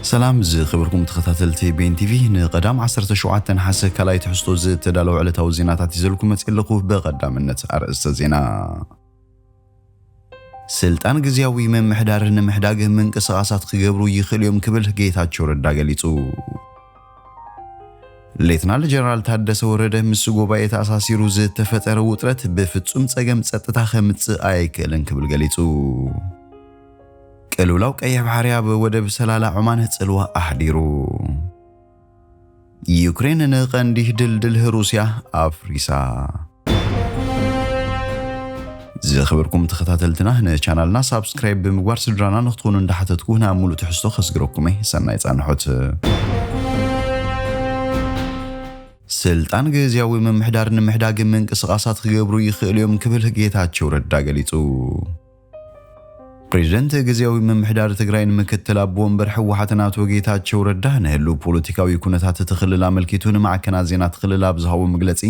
ሰላም ዝከበርኩም ተኸታተልቲ ቤን ቲቪ ንቀዳም ዓሰርተ ሸውዓተ ነሓሰ ካልኣይ ትሕዝቶ ዝተዳለወ ዕለታዊ ዜናታት ይዘልኩም መጽእ ኣለኹ በቀዳምነት ኣርእስተ ዜና ስልጣን ግዝያዊ ምምሕዳር ንምሕዳግ ምንቅስቓሳት ክገብሩ ይኽእሉ እዮም ክብል ጌታቸው ረዳ ገሊጹ። ሌትናል ጀነራል ታደሰ ወረደ ምስ ጉባኤ ተኣሳሲሩ ዝተፈጠረ ውጥረት ብፍጹም ጸገም ጸጥታ ከምጽእ ኣይክእልን ክብል ገሊጹ። ቅልውላው ቀይሕ ባሕሪ ኣብ ወደብ ሰላላ ዖማን ጽልዋ ኣሕዲሩ። ዩክሬን ንቀንዲ ድልድል ሩስያ ኣፍሪሳ። ዝኸበርኩም ተኸታተልትና ንቻናልና ሳብስክራይብ ብምግባር ስድራና ንክትኾኑ እንዳሓተትኩ ናብ ሙሉእ ትሕዝቶ ከስግረኩም እየ። ሰናይ ጻንሖት። ስልጣን ግዝያዊ ምምሕዳር ንምሕዳግ ምንቅስቓሳት ክገብሩ ይኽእሉ እዮም ክብል ጌታቸው ረዳ ገሊጹ። ፕሬዚደንት ግዝያዊ ምምሕዳር ትግራይን ምክትል ኣቦ ወንበር ህወሓትን ኣቶ ጌታቸው ረዳ ንህልው ፖለቲካዊ ኩነታት እቲ ክልል ኣመልኪቱ ንማዕከናት ዜና እቲ ክልል ኣብ ዝሃቦ መግለፂ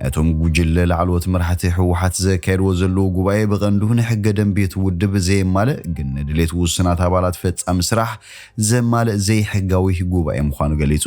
እቶም ጉጅለ ላዕለዎት መራሕቲ ህወሓት ዘካየድዎ ዘለዉ ጉባኤ ብቐንዱ ንሕገ ደንቢ እቲ ውድብ ዘየማልእ ግን ንድሌት ውሱናት ኣባላት ፈፃሚ ስራሕ ዘማልእ ዘይሕጋዊ ጉባኤ ምዃኑ ገሊፁ።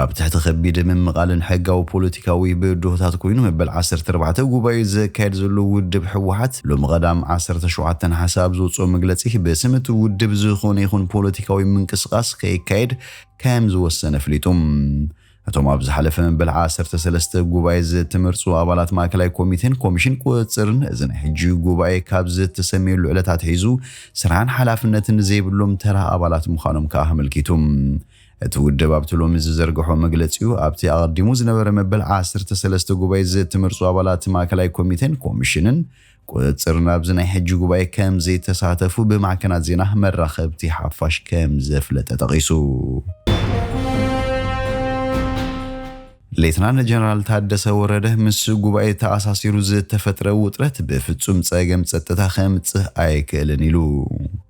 ኣብ ትሕቲ ከቢድ ምምቓልን ሕጋዊ ፖለቲካዊ ብድሆታት ኮይኑ መበል ዓሰርተ ኣርባዕተ ጉባኤኡ ዘካየድ ዘሎ ውድብ ህወሓት ሎሚ ቀዳም ዓሰርተ ሸውዓተ ነሓሰ ኣብ ዘውፅኦ መግለፂ ብስም እቲ ውድብ ዝኾነ ይኹን ፖለቲካዊ ምንቅስቓስ ከይካየድ ከም ዝወሰነ ኣፍሊጡ። እቶም ኣብ ዝሓለፈ መበል ዓሰርተ ሰለስተ ጉባኤ ዝተመርፁ ኣባላት ማእከላይ ኮሚቴን ኮሚሽን ቁፅፅርን እዚ ናይ ሕጂ ጉባኤ ካብ ዝተሰምየሉ ዕለት ኣትሒዙ ስራሕን ሓላፍነትን ዘይብሎም ተራ ኣባላት ምዃኖም ከዓ ኣመልኪቱ። እቲ ውድብ ኣብቲ ሎሚ ዝዘርገሖ መግለጺኡ፣ ኣብቲ ኣቐዲሙ ዝነበረ መበል ዓሰርተ ሰለስተ ጉባኤ ዝእተመርጹ ኣባላት ማእከላይ ኮሚቴን ኮሚሽንን ቁጽጽርን ኣብዚ ናይ ሕጂ ጉባኤ ከምዘይተሳተፉ ብማዕከናት ዜና መራኸብቲ ሓፋሽ ከምዘፍለጠ ጠቒሱ። ሌተናል ጀነራል ታደሰ ወረደ፣ ምስ ጉባኤ ተኣሳሲሩ ዝተፈጥረ ውጥረት ብፍጹም ጸገም ጸጥታ ከምጽእ ኣይክእልን ኢሉ።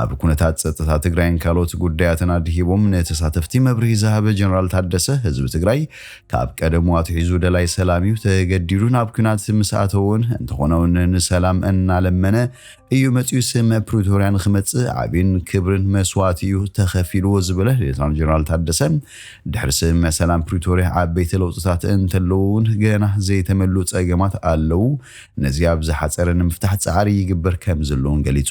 ኣብ ኩነታት ፀጥታ ትግራይን ካልኦት ጉዳያትን ኣድሂቦም ንተሳተፍቲ መብርሂ ዝሃበ ጀነራል ታደሰ ህዝቢ ትግራይ ካብ ቀደሙ ኣትሒዙ ደላይ ሰላም እዩ ተገዲዱ ናብ ኩናት ምስ ኣተወውን እንተኾነውን ንሰላም እናለመነ እዩ መፅኡ ስምምዕ ፕሪቶርያ ንክመፅእ ዓብን ክብርን መስዋእቲ እዩ ተኸፊልዎ ዝበለ ሌተናል ጀነራል ታደሰ ድሕሪ ስምምዕ ሰላም ፕሪቶርያ ዓበይቲ ለውጥታት እንተለዉ እውን ገና ዘይተመሉ ፀገማት ኣለዉ ነዚ ኣብ ዝሓፀረ ንምፍታሕ ፃዕሪ ይግበር ከምዘሎን ገሊፁ።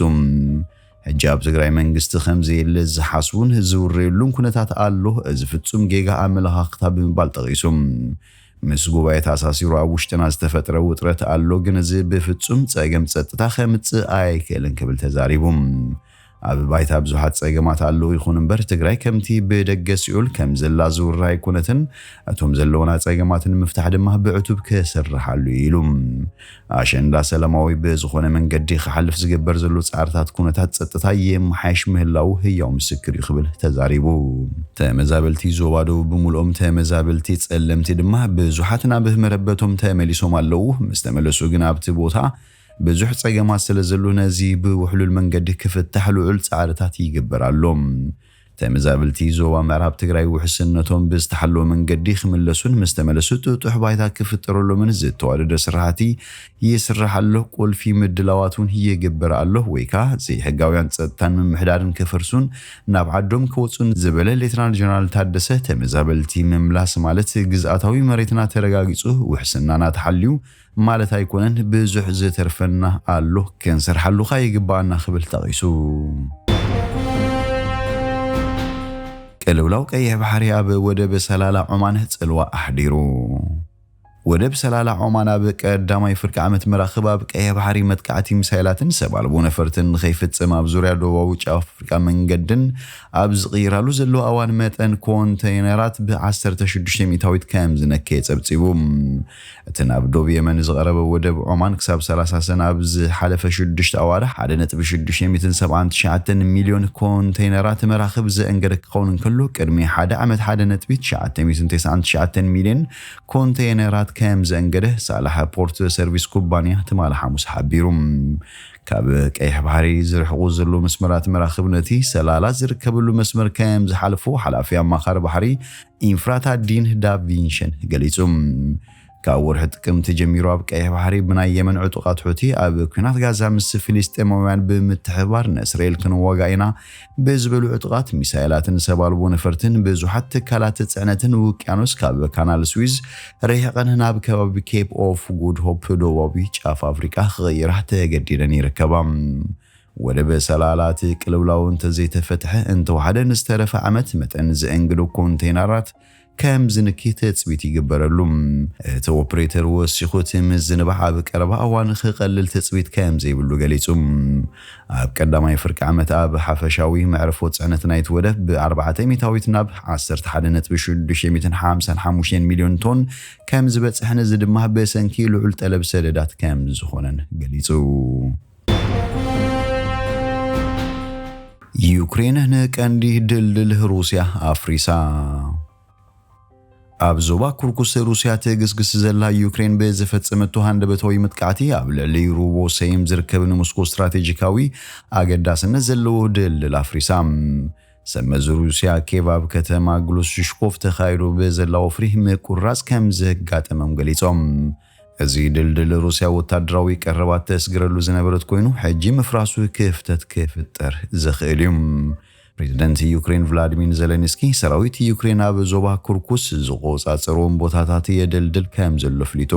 ሕጂ ኣብ ትግራይ መንግስቲ ከምዘየለ ዝሓስቡን ዝውረየሉን ኩነታት ኣሎ፣ እዚ ፍፁም ጌጋ ኣመለኻኽታ ብምባል ጠቒሱ። ምስ ጉባኤ ተኣሳሲሩ ኣብ ውሽጥና ዝተፈጥረ ውጥረት ኣሎ፣ ግን እዚ ብፍፁም ፀገም ፀጥታ ከምፅእ ኣይክእልን ክብል ተዛሪቡ። ኣብ ባይታ ብዙሓት ፀገማት ኣለዉ ይኹን እምበር ትግራይ ከምቲ ብደገ ሲኦል ከምዘላ ዝውራ ኣይኮነትን፣ እቶም ዘለዉና ፀገማት ንምፍታሕ ድማ ብዕቱብ ክስርሓሉ እዩ ኢሉ። ኣሸንዳ ሰላማዊ ብዝኾነ መንገዲ ክሓልፍ ዝግበር ዘሎ ፃዕርታት ኩነታት ፀጥታ ይመሓየሽ ምህላዉ ህያው ምስክር እዩ ክብል ተዛሪቡ። ተመዛበልቲ ዞባ ደቡብ ብምልኦም ተመዛበልቲ ፀለምቲ ድማ ብዙሓት ናብ መረበቶም ተመሊሶም ኣለዉ፣ ምስተመለሱ ግን ኣብቲ ቦታ ብዙሕ ጸገማት ስለ ዘሎ ነዚ ብውሕሉል መንገዲ ክፍታሕ ልዑል ጻዕርታት ይግበር ኣሎ። ተመዛብልቲ ዞባ ምዕራብ ትግራይ ውሕስነቶም ብዝተሓለወ መንገዲ ክምለሱን ምስ ተመለሱ ጥጡሕ ባይታ ክፍጠረሎምን ዝተዋደደ ስራሕቲ ይስራሕ ኣሎ። ቁልፊ ምድላዋት እውን ይግበር ኣሎ ወይ ከኣ ዘይሕጋውያን ጸጥታን ምምሕዳርን ክፈርሱን ናብ ዓዶም ክወጹን ዝበለ ሌተናል ጀነራል ታደሰ ተመዛበልቲ ምምላስ ማለት ግዝኣታዊ መሬትና ተረጋጊጹ ውሕስናና ተሓልዩ ማለት ኣይኮነን ብዙሕ ዝተርፈና ኣሎ ክንሰርሓሉ ከኣ ይግበኣና ክብል ጠቒሱ። ቅልውላው ቀይሕ ባሕሪ ኣብ ወደብ ሰላላ ዖማን ጽልዋ ኣሕዲሩ። ወደብ ሰላላ ዖማን ኣብ ቀዳማይ ፍርቂ ዓመት መራኽብ ኣብ ቀይሕ ባሕሪ መጥቃዕቲ ሚሳይላትን ሰብ ኣልቦ ነፈርትን ንኸይፍጽም ኣብ ዙርያ ደቡባዊ ጫፍ ኣፍሪቃ መንገድን ኣብ ዝቕይራሉ ዘሎ ኣዋን መጠን ኮንተይነራት ብ16 ሚእታዊት ከም ዝነከየ ጸብጺቡ። እቲ ናብ ዶብ የመን ዝቐረበ ወደብ ዖማን ክሳብ ሰላሳ ሰነ ኣብ ዝሓለፈ ሽዱሽተ ኣዋርሕ ሓደ ነጥቢ ሽዱሽተ ሰብዓን ትሽዓተን ሚልዮን ኮንተይነራት መራኽብ ዘእንገደ ክኸውን እንከሎ ቅድሚ ሓደ ዓመት ሓደ ነጥቢ ትሽዓተ ተስዓን ትሽዓተን ሚልዮን ኮንተይነራት ከም ዘእንገደ ሳላሕ ፖርት ሰርቪስ ኩባንያ ትማሊ ሓሙስ ሓቢሩ። ካብ ቀይሕ ባሕሪ ዝርሕቑ ዘለዉ መስመራት መራኽብ ነቲ ሰላላት ዝርከበሉ መስመር ከም ዝሓልፉ ሓላፊ ኣማኻሪ ባሕሪ ኢንፍራታ ዲን ዳቪንሽን ገሊጹ። ካብ ወርሒ ጥቅምቲ ጀሚሩ ኣብ ቀይሕ ባሕሪ ብናይ የመን ዕጡቓት ሑቲ ኣብ ኲናት ጋዛ ምስ ፍልስጤማውያን ብምትሕብባር ንእስራኤል ክንዋጋእ ኢና ብዝበሉ ዕጡቓት ሚሳይላትን ሰብ ኣልቦ ነፈርትን ብዙሓት ትካላት ጽዕነትን ውቅያኖስ ካብ ካናል ስዊዝ ርሒቐን ናብ ከባቢ ኬፕ ኦፍ ጉድ ሆፕ ደቡባዊ ጫፍ ኣፍሪቃ ክቕይራ ተገዲደን ይርከባ። ወደብ ሰላላ እቲ ቅልውላው እንተዘይተፈትሐ እንተወሓደ ንዝተረፈ ዓመት መጠን ዘእንግዱ ኮንተይነራት ከም ዝንኪ ትጽቢት ይግበረሉ። እቲ ኦፕሬተር ወሲኹ እቲ ምዝንባዕ ኣብ ቀረባ እዋን ክቐልል ትጽቢት ከም ዘይብሉ ገሊጹ። ኣብ ቀዳማይ ፍርቂ ዓመት ኣብ ሓፈሻዊ መዕርፎ ጽዕነት ናይቲ ወደብ ብ ኣርባዕተ ሚታዊት ናብ ዓሰርተ ሓደ ነጥቢ ሽዱሽተ ሚእትን ሓምሳን ሓሙሽተን ሚልዮን ቶን ከም ዝበጽሕን እዚ ድማ ብሰንኪ ልዑል ጠለብ ሰደዳት ከም ዝኾነን ገሊጹ። ዩክሬን ንቀንዲ ድልድል ሩስያ ኣፍሪሳ። ኣብ ዞባ ኩርኩስ ሩስያ ትግስግስ ዘላ ዩክሬን ብዝፈጸመቶ ሃንደበታዊ መጥቃዕቲ ኣብ ልዕሊ ሩቦ ሰይም ዝርከብ ንሞስኮ ስትራቴጂካዊ ኣገዳስነት ዘለዎ ድልድል ኣፍሪሳ። ሰመዚ ሩስያ ኬቭ ኣብ ከተማ ግሉስሽኮቭ ተኻይዶ ብዘላ ወፍሪ ምቁርራጽ ከም ዘጋጠመም ገሊጾም። እዚ ድልድል ሩስያ ወታደራዊ ቀረባት ተስግረሉ ዝነበረት ኮይኑ ሕጂ ምፍራሱ ክፍተት ክፍጠር ዝኽእል እዩ። ፕሬዝደንት ዩክሬን ቭላድሚን ዘለንስኪ ሰራዊት ዩክሬን ኣብ ዞባ ኩርኩስ ዝቆፃፀርዎም ቦታታት የደልድል ከም ዘሎ ኣፍሊጡ።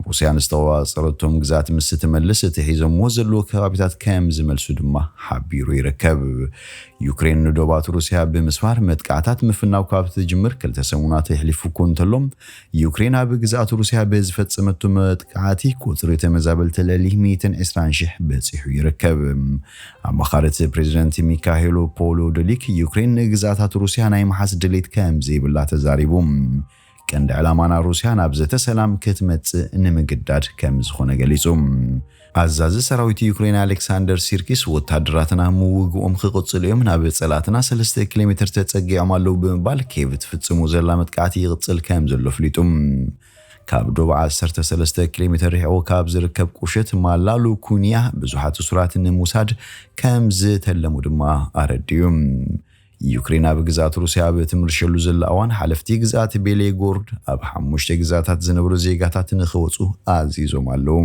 ሩስያ ንዝተቆፃፀረቶም ግዝኣት ምስ ትመልስ እቲ ሒዞምዎ ዘለዎ ከባቢታት ከም ዝመልሱ ድማ ሓቢሩ ይርከብ። ዩክሬን ንዶባት ሩስያ ብምስፋር መጥቃዕታት ምፍናው ካብ ትጅምር ክልተ ሰሙናት የሕሊፉ እኮ እንተሎ ዩክሬን ኣብ ግዝኣት ሩስያ ብዝፈጸመቶ መጥቃዕቲ ቁጽሪ ተመዛበልቲ ልዕሊ ሚእትን ዕስራን ሽሕ በጺሑ ይርከብ። ኣማኻሪት ፕሬዚደንት ሚካሄሎ ፖሎዶሊክ ዩክሬን ንግዝኣታት ሩስያ ናይ ምሓዝ ድሌት ከም ዘይብላ ተዛሪቡ። ቀንዲ ዕላማና ሩስያ ናብ ዘተ ሰላም ክትመጽእ ንምግዳድ ከም ዝኾነ ገሊጹ። ኣዛዚ ሰራዊት ዩክሬን ኣሌክሳንደር ሲርኪስ፣ ወተሃደራትና ምውግኦም ክቕጽሉ እዮም፣ ናብ ጸላእትና ሰለስተ ኪሎሜተር ተጸጊዖም ኣለዉ ብምባል ኬቭ ትፍጽሞ ዘላ መጥቃዕቲ ይቕጽል ከም ዘሎ ኣፍሊጡ። ካብ ዶብ ዓሰርተ ሰለስተ ኪሎሜተር ርሒቑ ካብ ዝርከብ ቁሸት ማላ ሉኩንያ ብዙሓት እሱራት ንምውሳድ ከም ዝተለሙ ድማ ኣረዲኡ። ዩክሬን ኣብ ግዝኣት ሩስያ ኣብ እትምርሸሉ ዘላ እዋን፣ ሓለፍቲ ግዝኣት ቤሌጎርድ ኣብ ሓሙሽተ ግዝኣታት ዝነብሩ ዜጋታት ንኽወጹ ኣዚዞም ኣለዉ።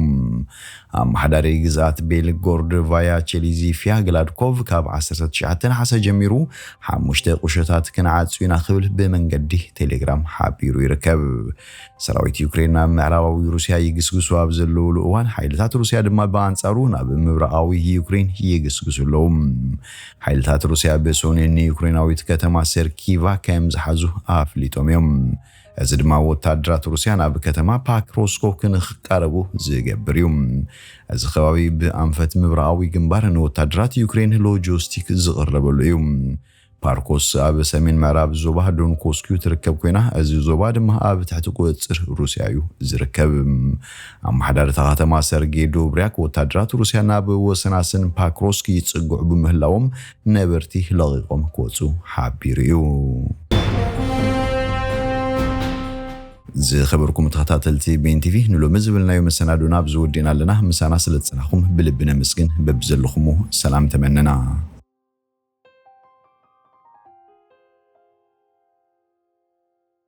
ኣመሓዳሪ ግዝኣት ቤልጎርድ ቫያቸሊ ዚፍያ ግላድኮቭ ካብ ዓሰርተ ትሽዓተ ነሓሰ ጀሚሩ ሓሙሽተ ቁሸታት ክንዓጹ ኢና ክብል ብመንገዲ ቴሌግራም ሓቢሩ ይርከብ። ሰራዊት ዩክሬን ናብ ምዕራባዊ ሩስያ ይግስግሱ ኣብ ዘለዉሉ እዋን ሓይልታት ሩስያ ድማ ብኣንጻሩ ናብ ምብራቓዊ ዩክሬን ይግስግሱ ኣለዉ። ሓይልታት ሩስያ ብሰኑይ ንዩክሬናዊት ከተማ ሰርኪቫ ከም ዝሓዙ ኣፍሊጦም እዮም። እዚ ድማ ወተሃደራት ሩስያ ናብ ከተማ ፓክሮስኮ ክንክቃረቡ ዝገብር እዩ። እዚ ከባቢ ብኣንፈት ምብራቓዊ ግንባር ንወተሃደራት ዩክሬን ሎጂስቲክ ዝቕረበሉ እዩ። ፓርኮስ ኣብ ሰሜን ምዕራብ ዞባ ዶንኮስኪዩ ትርከብ ኮይና እዚ ዞባ ድማ ኣብ ትሕቲ ቁፅፅር ሩስያ እዩ ዝርከብ። ኣመሓዳሪ እታ ከተማ ሰርጌ ዶብርያክ ወታደራት ሩስያ ናብ ወሰናስን ፓክሮስክ ይጽግዑ ብምህላዎም ነበርቲ ለቒቖም ክወጹ ሓቢሩ እዩ። ዝኸበርኩም ተኸታተልቲ ቤን ቲቪ ንሎሚ ዝብልናዮ መሰናዶና ኣብዚ ወዲእና ኣለና። ምሳና ስለ ዝጸናኹም ብልቢ ነመስግን። በብዘለኹሞ ሰላም ተመነና።